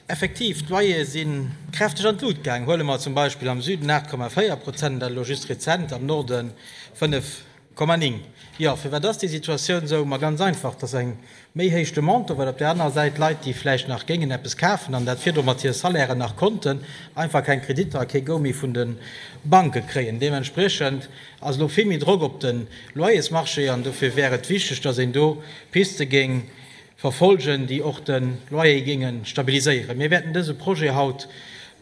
Effektiv, d'Loyere si kräfteg an d'Lut gaangen. Huele mer zum Beispill am Süden, 8,4 Prozent, dat elo just rezent, am Norde 5,9. Jo, firwat ass déi Situatioun esou? Ma ganz einfach, dass eng méi héich Demande do war, well op där anerer Säit Leit, déi vläicht nach géingen eppes kafen an dat virdru mat hire Salairen nach konnten, einfach keng Kreditter a kee Go méi vun de Banke kréien. Deementspriechend ass elo vill méi Drock op de Loyersmarchéen an dofir wär et wichteg, dass een do Piste géing verfolgen, déi och de Loyer géinge stabiliséieren. Mir wäerten dëse Projet haut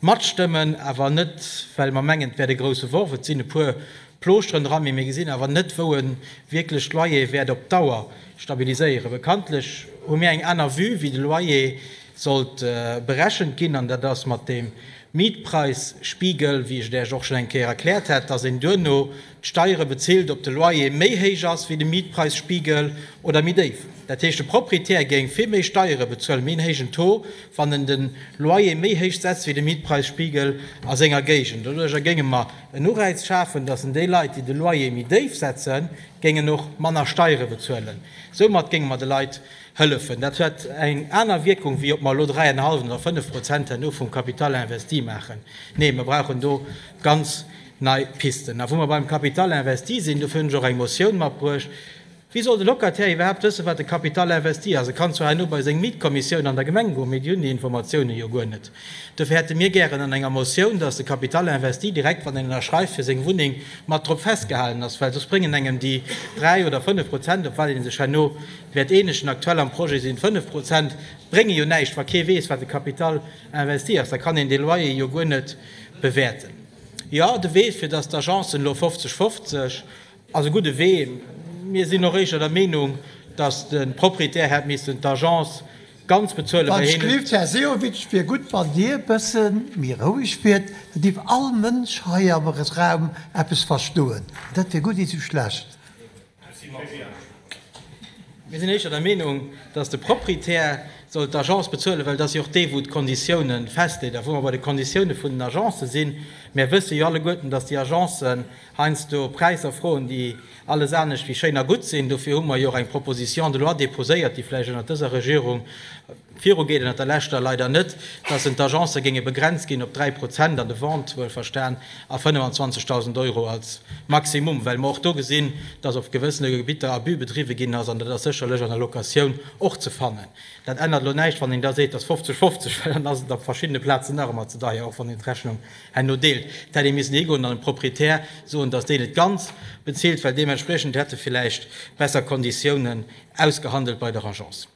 matstëmmen, awer net, well mer mengen, et wäert e grouse Worf. Et sinn e puer Plooschteren dran, mee mir gesinn awer net, wou e wierklech d'Loyer wäert op Dauer stabiliséieren. Bekanntlech hu mir eng aner Vue, wéi de Loyer sollt berechent ginn, an dat ass mat deem Mietpreisspiegel, wéi ech et Iech och schonn eng Kéier erkläert hat, dass een duerno Steiere bezilt, ob de Loyer méi héich ass wéi de Mietpräisspiegel oder méi déif. Dat heescht, de Proprietär géing vill méi Steiere bezuelen, méi en héijen Taux, wann en den Loyer méi héich setzt wéi de Mietpräisspiegel a senger Géigend. Doduercher géinge mer en Uräiz schafen, dass en déi Leit, déi de Loyer méi déif setzen, géingen och manner Steiere bezuelen. Soumat géinge mer de Leit hëllefen. Dat hätt eng aner Wierkung, wéi ob mer elo 3,5 oder 5 Prozent herno vum Capital investi maachen. Nee, mer brauchen do ganz. Nei Pisten. A wou mer beim Capital investi sinn, dofir hunn ech och eng Motioun matbruecht, Wéi soll de Locataire iwwerhaapt wëssen, wat e Capital investi ass? E kann zwar herno bei seng Mietkommissioun an der Gemeng goen, mee déi hunn déi Informatiounen jo guer net. Dofir hätte mir gären an enger Motioun, dass de Capital investi direkt, wann een ënnerschreift fir seng Wunneng, mat drop festgehalen ass, well soss bréngen engem déi dräi oder fënnf Prozent, op wat ee sech herno wäert eenegen, aktuell am Projet sinn et fënnf Prozent, brénge jo näischt, wa kee weess, wat e Capital investi ass. Da kann een dee Loyer jo guer net bewäerten. Jo, de Wee fir datt d'Agencen elo 50, 50, ass e gudde Wee. Mir sinn och éischter der Meenung, datt de Proprietär hätt missen d'Agence ganz bezuelen, well hien huet. Här Sehovic, et wier gutt, wann Dir e bësse méi roueg wiert, da géif all Mënsch hei am Raum eppes verstoen. Dat wier gutt, iwwel schlecht. Mir sinn éischer der Meenung, datt de Proprietär soll d'Agence bezuelen, well et ass jo och dee wou d'Konditioune festleet. A wou mer bei de Konditioune vun den Agencë sinn, Mir wësse jo alleguerten, datt déi Agencen heiansdo Präisser froen, déi alles anescht wéi schéin a gutt sinn. Dofir hu mer jo och eng Proposition de loi déposéiert, déi vläicht ënnert dëser Regierung, Viru geet ënnert der leschter leider net, dass en d'Agencë géinge begrenzt ginn op 3 Prozent an de Vente, wuelverstan, a 25.000 Euro als Maximum, well mer och do gesinn, dass op gewëssene Gebitter Abus bedriwwe ginn ass, an dat ass sécherlech an der Locatioun och ze fannen. Dat ännert elo näischt, wann een da seet, dass 50, 50, well dann ass et op verschiddene Plazen nach ëmmer ze deier, och wann een d'Rechnung herno deelt. Et hätt ee missen higoen an dem Proprietär soen, dass deen et ganz bezilt, well deementspriechend hätt e villäicht besser Konditiounen ausgehandelt bei der Agence.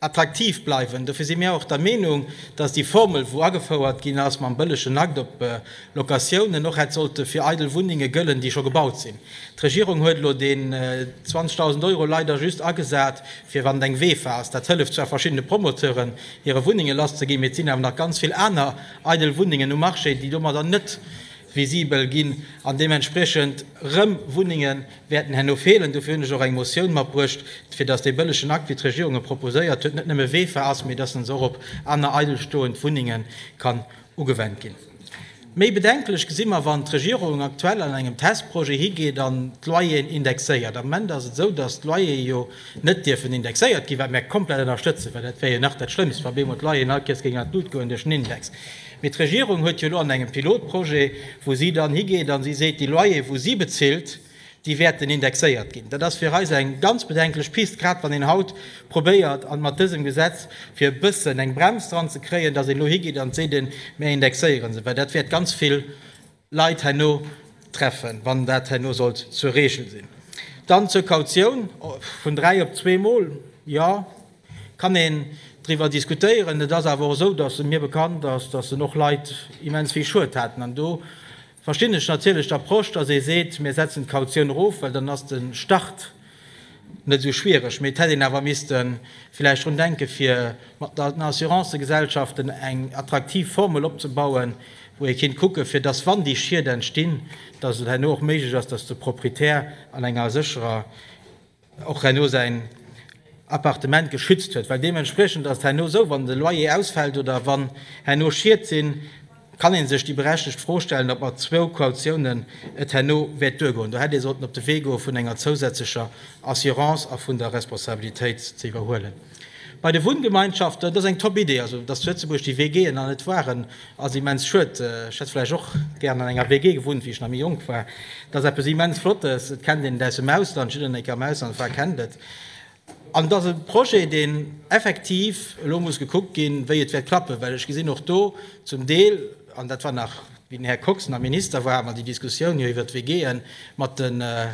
attraktiv bleiwen. Dofir si mir och der Meenung, dass déi Formel, wou agefouert ginn ass mam bëllegen Akt op Locatiounen, och hätt sollte fir eidel Wunnenge gëllen, déi scho gebaut sinn. D'Regierung huet elo deen 20.000 Euro leider just agesat, fir wann et eng WEFA ass. Dat hëlleft zwar verschiddene Promoteuren, hire Wunnenge lasszeginn, mee et sinn awer nach ganz vill aner eidel Wunnengen um Marché, déi domadder net visibel ginn an deementspriechend erëm Wunnenge wäerten herno feelen. Dofir hunn ech och eng Motioun matbruecht, fir dass dee bëllegen Akt, wéi d'Regierung e proposéiert huet, net nëmme wefer ass, mee dass en och op aner eidelstoend Wunnenge kann ugewendt ginn. Méi bedenklech gesi mer, wann d'Regierung aktuell an engem Testprojet higeet an d'Loyeren indexéiert. Am Moment ass et esou, dass d'Loyere jo net dierfen indexéiert ginn, wat mir komplett ënnerstëtzen, well dat wär jo nach dat Schlëmmst, wa op eemol d'Loyeren all Kierzkrigen an d'Lut goen duerch den Index. Mee d'Regierung huet jo elo an engem Pilotprojet, wou si dann higeet a si seet, déi Loyere wou si bezilt, déi wäerten indexéiert ginn. Dat ass fir eis eng ganz bedenklech Pist, grad wann een haut probéiert an mat dësem Gesetz fir e bëssen eng Brems dran ze kréien, datt een elo higeet an seet, mee indexéiere se, well dat wäert ganz vill Leit herno treffen, wann dat herno sollt zur Reegel sinn. Dann zur Kautioun, vun dräi op zweemol, jo, kann een driwwer diskutéieren. Et ass awer och esou, datt mir bekannt ass, datt en och Leit immens vill Schued haten. An do verstinn ech natierlech d'Approche, datt ee seet, mir setzen d'Kautioun erof, well dann ass de Start Net esou schwiereg, mee et hätt een awer misste villäicht drun denken, fir mat den Assurancëgesellschaften eng attraktiv Formel opzebauen, wou ee kinnt kucken, fir dass, wann déi Schied entstinn, dass et herno och méiglech ass, dass de Proprietär an enger sécherer och herno säin Appartement geschützt huet. Well deementspriechend ass et herno esou, wann de Loyer ausfält oder wann herno Schied sinn, kann ee sech déi berechtegt Fro stellen, ob mat zwou Kautiounen et herno wäert duergoen. Do hätt ee sollten op de Wee goe vun enger zousätzlecher Assurance a vun der Responsabilitéit ze iwwerhuelen. Bei de Wunngemeinschaften, dat ass eng top Idee, also datt d'Lëtzebuerg déi Wee géien an et waren, ass immens schued. Ech hätt vläicht och gär an enger WG gewunnt, wéi ech nach méi jonk war. Dat ass eppes immens Flottes, et kennt een et aus dem Ausland, jiddereen, deen e kéier am Ausland war, kennt et. An et ass e Projet, deen effektiv elo muss gekuckt ginn, wéi et wäert klappen, well ech gesinn och do zum Deel, an dat war nach wéi den Här Kox nach Minister war, hat mer déi Diskussioun jo iwwert d'WGen mat de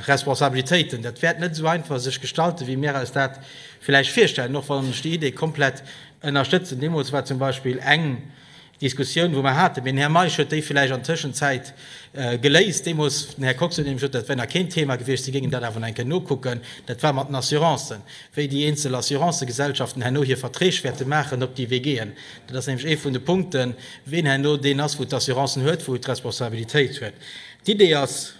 Responsabilitéiten, dat wäert net esou einfach sech gestalten, wéi mir eis dat vläicht virstellen, och wann ech déi Idee komplett ënnerstëtzen. Deemools war zum Beispill eng Diskussioun, wou mer haten, den Här Meisch huet déi villäicht an der Tëschenzäit geléist deemools, den Här Kox huet nämlech gesot, dat wär nach keen Thema gewiescht, si géingen dat awer nach eng Kéier nokucken, dat war mat den Assurancen, wéi déi eenzel Assurancegesellschaften herno hir Verträg wäerte maachen, ob déi Wee géingen. Dat ass nämlech ee vun de Punkten, wien herno deen ass, wou d'Assurancen huet, wou d'Responsabilitéit huet. D'Idee ass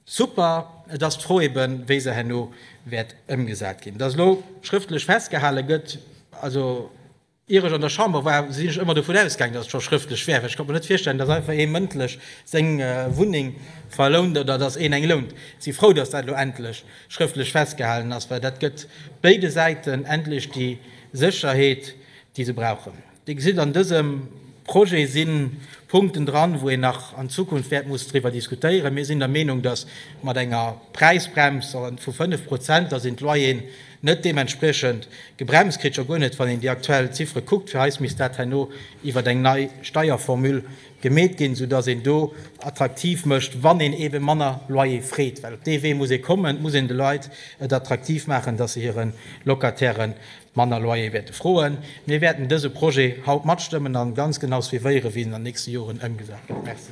super, et ass d'Fro eben, wéi se herno wäert ëmgesat ginn, dass elo schrëftlech festgehale gëtt, also Ier ech an der Chamber war, sinn ech ëmmer dovun ausgaangen, dass et scho schrëftlech wär, well ech konnt mer net virstellen, dass einfach ee mëndlech seng Wunneng verlount oder dass een eng lount. Si frou, dass dat elo endlech schrëftlech festgehalen ass, well dat gëtt béide Säiten endlech déi Sécherheet, déi se brauchen. Dir gesitt, an dësem Projet si Punkten dran, wou een nach an Zukunft wäert mussen driwwer diskutéieren. Mir sinn der Meenung, dass mat enger Präisbrems vu fënnef Prozent, dass een d'Loyeren Net deementspriechend gebremst kritt scho guer net, wann een déi aktuell Ziffere kuckt. Fir eis misst dat herno iwwert eng nei Steierformule gemeet ginn, sou dass een do attraktiv mécht, wann een ebe manner Loyer freet. Well op dee Wee muss ee kommen, et muss een de Leit et attraktiv maachen, dass se hire Locataire manner Loyer wäerte froen. Mir wäerten dëse Projet haut matstëmmen a ganz genau suivéieren, wéi en an den nächste Joren ëmgesat gëtt. Merci.